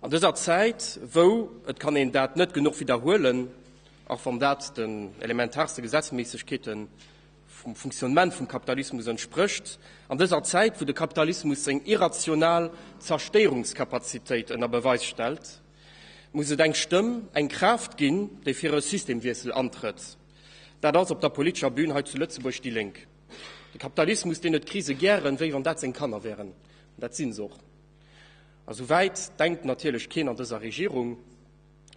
An dëser Zäit, wou, et kann een dat net genuch widderhuelen, och wann dat den elementaarste Gesetzméissegkeete vum Fonctionnement vum Kapitalismus entsprécht, an dëser Zäit, wou de Kapitalismus seng irrational Zerstéierungskapazitéit ënner Beweis stellt, muss et eng Stëmm, eng Kraaft ginn, déi fir e Systemwiessel antrëtt. Dat ass op der politescher Bühn hei zu Lëtzebuerg déi Lénk. De Kapitalismus, deen huet d'Krise gären, wéi wann dat seng Kanner wären, an dat si se och. A sou wäit denkt natierlech keen an dëser Regierung.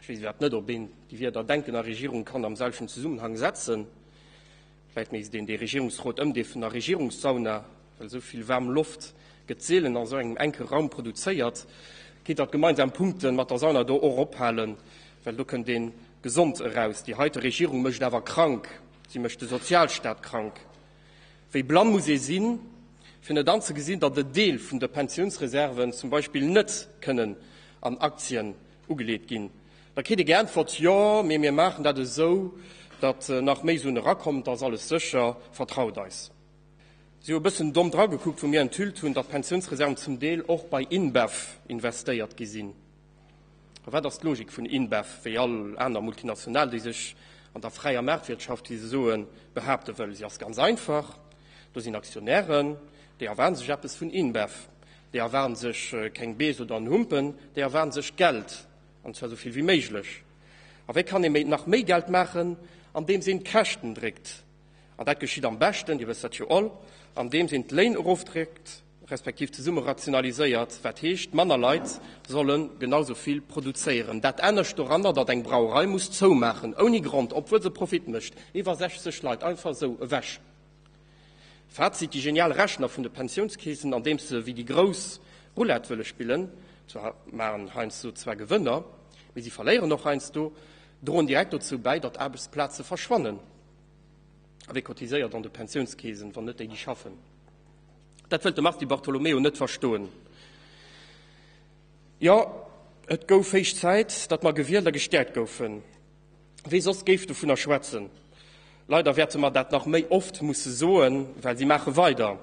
Ech weess iwwerhaapt net, ob een déi Wierder Denken a Regierung kann am selwechten Zesummenhang setzen. Vläicht misst een dee Regierungsrot ëmdeefen a Regierungssauna, well esou vill waarm Loft gëtt seelen an esou engem enke Raum produzéiert. Kéint Der d'gemeinsam Punkte mat der Sauna do och ophalen, well do kënnt ee gesond eraus. Déi heite Regierung mécht awer krank, si mécht de Sozialstaat krank. Wéi blann muss ee sinn, fir net anzegesinn, datt en Deel vun de Pensiounsreserven zum Beispill net kënnen an Aktien ugeleet ginn? Da kritt ee geäntwert, Jo, mee mir maachen dat esou, datt nach méi Suen erakommen, et ass alles sécher, vertraut eis. Si hu e bëssen domm dragekuckt, wou mir enthüllt hunn, datt d'Pensiounsreserven zum Deel och bei InBev investéiert gi sinn. Wat ass d'Logik vun InBev, wéi all aner Multinational, déi sech an der fräier Maartwirtschaft, wéi se soen, behaapte wëll? Si ass ganz einfach, Do sinn Aktionären, déi erwaarde sech eppes vun InBev. Déi erwaarde sech keng Bees oder en Humpen, déi erwaarde sech Geld, an zwar esou vill wéi méiglech. A wéi kann ee nach méi Geld maachen? Andeems een d'Käschten dréckt. An dat geschitt am beschten, Dir wësst dat jo all, andeems een d'Léin erofdréckt. respektiv zesumme rationaliséiert, wat heescht, manner Leit solle genau esou vill produzéieren. Dat Anescht doranner, datt eng Brauerei muss zoumaachen, ouni Grond, obwuel se Profit mécht, iwwer 60 Leit einfach esou ewech. Fazit, déi genial Rechner vun de Pensiounskeesen, andeems se wéi déi Grouss Roulette wëlle spillen, zwar maachen heiansdo zwar Gewënner, mee si verléieren och heiansdo, droen direkt dozou bäi, datt Aarbechtsplaze verschwannen. A wie cotiséiert an de Pensiounskeesen, wann net déi, déi schaffen? Dat wëllt de Mars Di Bartolomeo net verstoen. Jo, et gouf héich Zäit, datt mer gewielt a gestäerkt goufen. Wie soss géif dovunner schwätzen? Leider wäerte mer dat nach méi oft musse soen, well si maache weider.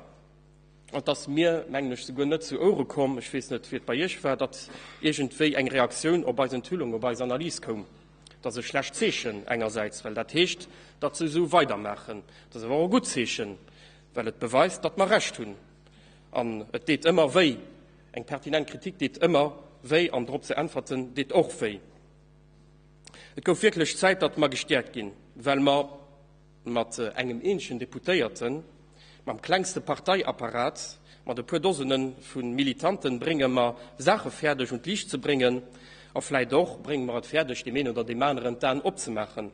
An et ass mir, mengen ech, souguer net zu Ouere komm, ech weess net, wéi et bei Iech war, datt iergendwéi eng Reaktioun op eis Enthüllung, op eis Analys koum. Dat ass e schlecht Zeechen engersäits, well dat heescht, datt se esou weidermaachen. Dat ass awer och e gutt Zeechen. well et beweist, datt mer Recht hunn. An et deet ëmmer wéi, eng pertinent Kritik deet ëmmer wéi an drop ze äntwerten deet och wéi. Et gouf wierklech Zäit, datt mer gestäerkt ginn, well mer mat engem eenzegen Deputéierten, mam klengste Parteiapparat, mat e puer Dosene vu Militanten brénge mer Saache fäerdeg un d'Liicht ze bréngen a vläicht och brénge mer et fäerdeg, deem een oder deem aneren d'Aen opzemaachen.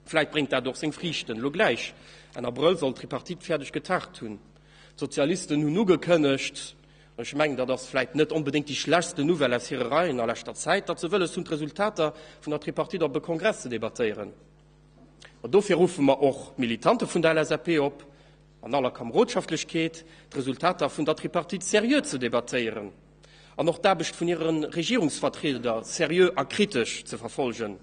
Vläit bréngt dat och seng Friichten elo gläich. Enn Abrëll soll d'Tripartite fäerdeg getagt hunn. D'Sozialisten hunn ugekënnegt, ech mengen, dat ass vläit net onbedéngt déi schlechtsten Nouvelle aus hire Reien a leschter Zäit, datt se wëlles hunn, d'Resultater vun der Tripartite op e Kongress ze debattéieren. Ma dofir ruffe mer och d'Militante vun der LSAP op, an aller Kamerodschaftlechkeet, d'Resultater vun der Tripartite seriö ze debattéieren an och d'Aarbecht vun hire Regierungsvertrieder seriö a kritesch ze verfollegen.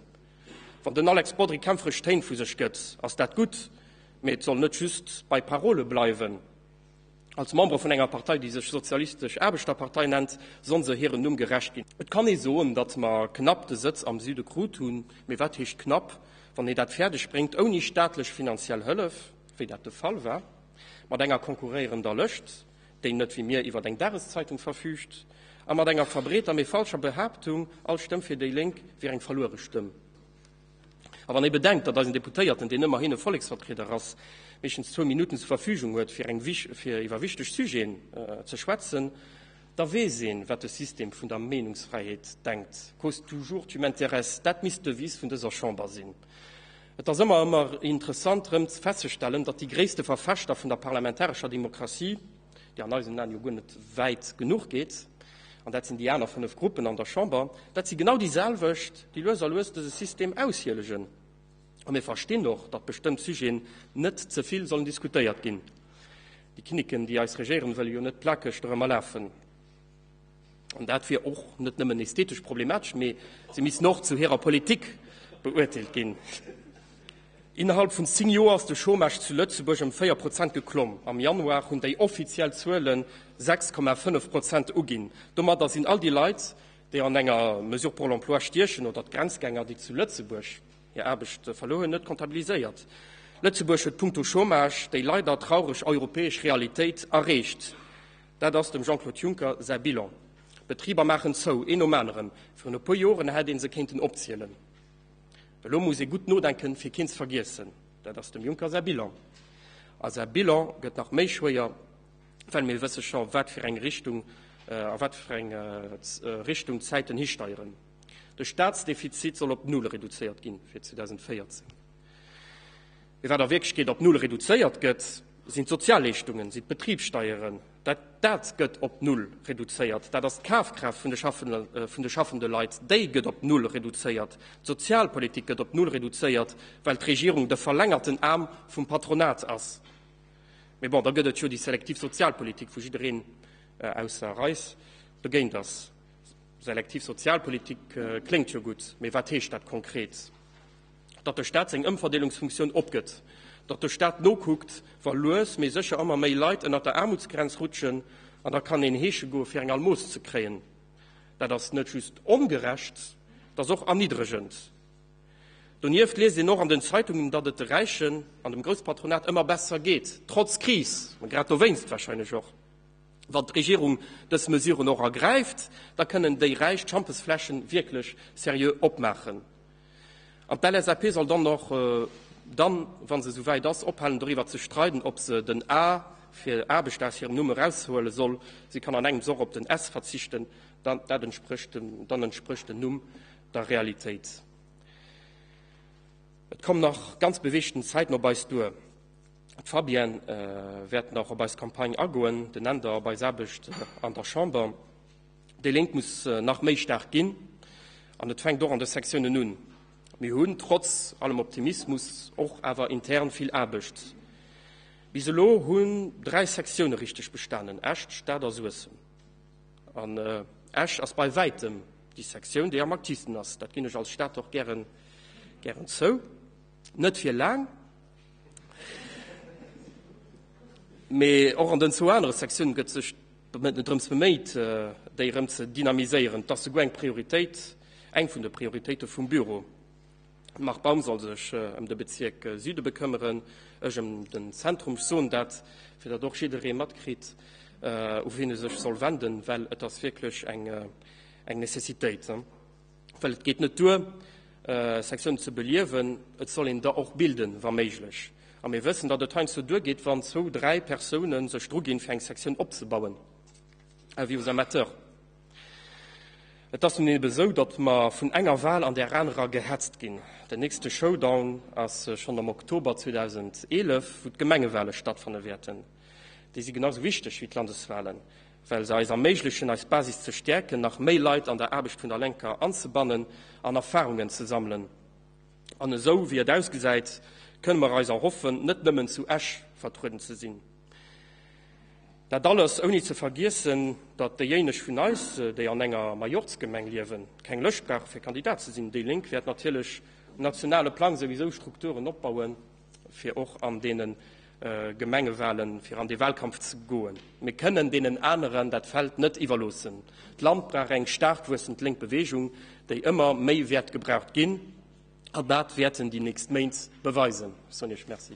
Wann den Alex Bodry kämpferesch Téin vu sech gëtt, ass dat gutt, mee et soll net just bei Parole bleiwen. Als Membere vun enger Partei, déi sech Sozialistesch Aarbechterpartei nennt, soll se hirem Numm gerecht ginn. Et kann ee soen, datt mer knapp de Sëtz am Süde krut hunn, mee wat heescht knapp, wann ee dat fäerdeg bréngt, ouni staatlech finanziell Hëllef, wéi dat de Fall war mat enger konkurréierender Lëscht? déi net wéi mir iwwer eng Dageszeitung verfüügt, a mat enger verbreeter, mee falscher Behaaptung, all Stëmm fir déi Lénk wier eng verluere Stëmm. A wann ee bedenkt, datt eisen Deputéierten, deen ëmmerhin e Volleksvertrieder ass, meeschtens zwou Minutten zur Verfügung huet, fir eng fir iwwer wichteg Sujeten ze schwätzen, da weess een, wat de System vun der Meenungsfräiheet denkt, Cause toujours tu m'intéresses, dat misst d'Devise vun dëser Chamber sinn. Et ass ëmmer ëmmer interessant erëm festzestellen, datt déi gréisste Verfechter vun der parlamentarescher Demokratie, déi an eisen Aen jo guer net wäit genuch geet, an dat sinn déi aner fënnef Gruppen an der Chamber, dat si genau déi selwecht, déi lues a lues dëse System aushielegen. A mir verstinn och, datt bestëmmt Sujeten net ze vill sollen diskutéiert ginn. Déi Kinniken, déi eis regéieren, wëlle jo net plakeg dorëmmer lafen. An dat wier och net nëmmen esthetesch problematesch, mee si missten och zu hirer Politik beurteelt ginn. Innerhalb vun zéng Joer ass de Chômage zu Lëtzebuerg ëm véier Prozent geklomm. Am Januar hunn déi offiziell Zuelen 6,5 Prozent uginn. Domadder sinn all déi Leit, déi an enger Mesure pour l'emploi stiechen, oder d'Grenzgänger, déi zu Lëtzebuerg hir Aarbecht verluer hunn, net kontabiliséiert. Lëtzebuerg huet punkto Chômage déi leider traureg europäesch Realitéit erreecht. Dat ass dem Jean-Claude Juncker säi Bilan. D'Betriber maachen zou, een nom aneren. Virun e puer Joren hätt ee se kéinten opzielen. Elo muss ee gutt nodenken, fir keen ze vergiessen. Dat ass dem Juncker säi Bilan. A säi Bilan gëtt nach méi schwéier, well mir wësse scho a wat fir enger Richtung d'Zäiten histeieren. De Staatsdefizit soll op Null reduzéiert ginn fir 2014. Mee wat a Wierklechkeet op Null reduzéiert gëtt, sinn d'Sozialleeschtungen, sinn d'Betribssteieren. Dat dat gëtt op Null reduzéiert, dat ass d'Kafkraaft vun de schaffende vun de schaffende Leit, déi gëtt op Null reduzéiert. D'Sozialpolitik gëtt op Null reduzéiert, well d'Regierung de verlängerten Aarm vum Patronat ass. Mee bon, da gëtt et jo déi selektiv Sozialpolitik, wou jiddereen, ausser Reis, dogéint ass. Selektiv Sozialpolitik kléngt jo gutt, mee wat heescht dat konkret? datt de Staat seng Ëmverdeelungsfunktioun opgëtt, datt de Staat nokuckt, wa lues mee sécher ëmmer méi Leit ënnert der Aarmutsgrenz rutschen. An da kann een heesche goe fir eng Almos ze kréien. Dat ass net just ongerecht, dat ass och erniddregend. Donieft liest een och an den Zeitungen, datt et de Räichen an dem Grousspatronat ëmmer besser geet, trotz Kris, mä grad dowéinst warscheinlech och. Wann d'Regierung dës Mesuren och ergräift, da kënnen déi Räich d'Schampesfläschen wierklech seriö opmaachen. An d'LSAP soll dann och, wa se esou wäit ass, ophalen doriwwer ze streiden, ob se den A fir Aarbecht aus hirem Numm eraushuele soll. Si kann an engems och op den S verzichten, dann entsprécht den Numm der Realitéit. Et kommen nach ganz beweegten Zäiten op eis duer. D'Fabienne wäert nach op eis Campagne agoen, den Änder op eis Aarbecht an der Chamber. Déi Lénk muss nach méi staark ginn, an et fänkt och an de Sektiounen un. Mir hunn trotz allem Optimismus och awer intern vill Aarbecht. Bis elo hunn dräi Sektioune richteg bestanen, Esch, d'Stad a Suessem. An Esch ass bei wäitem déi Sektioun, déi am aktivsten ass, dat ginn ech als Stad och gären zou. Net fir laang. Mee och an den zwou anere Sektiounen gëtt sech drëms beméit, déi erëm ze dynamiséieren. Et ass souguer eng Prioritéit, eng vun de Prioritéite vum Büro. De Marc Baum soll sech ëm de Bezierk Süde bekëmmeren, ech ëm den Zentrum. Ech soen dat, fir datt och jidderee matkritt, u wien e sech soll wenden, well et ass wierklech eng Necessitéit. well et geet net duer, Sektiounen ze beliewen, et soll een der och bilden, wa méiglech. A mir wëssen, datt et heiansdo duergeet, wann zwou, dräi Persoune sech druginn, fir eng Sektioun opzebauen, avis aux amateurs. Et ass nun eeben esou, datt mer vun enger Wahl an där anerer gehetzt ginn. Den nächste Showdown ass schonn am Oktober 2011, wou d'Gemengewale stattfanne wäerten. Déi si genau esou wichteg wéi d'Landeswahlen. well se eis erméiglechen, eis Basis ze stäerken, nach méi Leit an der Aarbecht vun der Lenker anzebannen an Erfarungen ze sammelen. An esou wéi et ausgesäit, kënne mer eis erhoffen, net nëmmen zu Esch vertrueden ze sinn. Dat alles ouni ze vergiessen, datt déijéineg vun eis, déi an enger Majorzgemeng liewen, keng Lëscht brauche fir Kandidat ze sinn. Déi Lénk wäert natierlech um nationale Plang souwisou Strukturen opbauen, fir och an deene Gemengewahlen, fir an dee Wahlkampf ze goen. Mir kënnen deenen aneren dat Feld net iwwerloossen. D'Land brauch eng staark wuessend lénk Beweegung, déi ëmmer méi wäert gebraucht ginn. An dat wäerten déi nächst Méint beweisen. Sonia Schmit, Merci.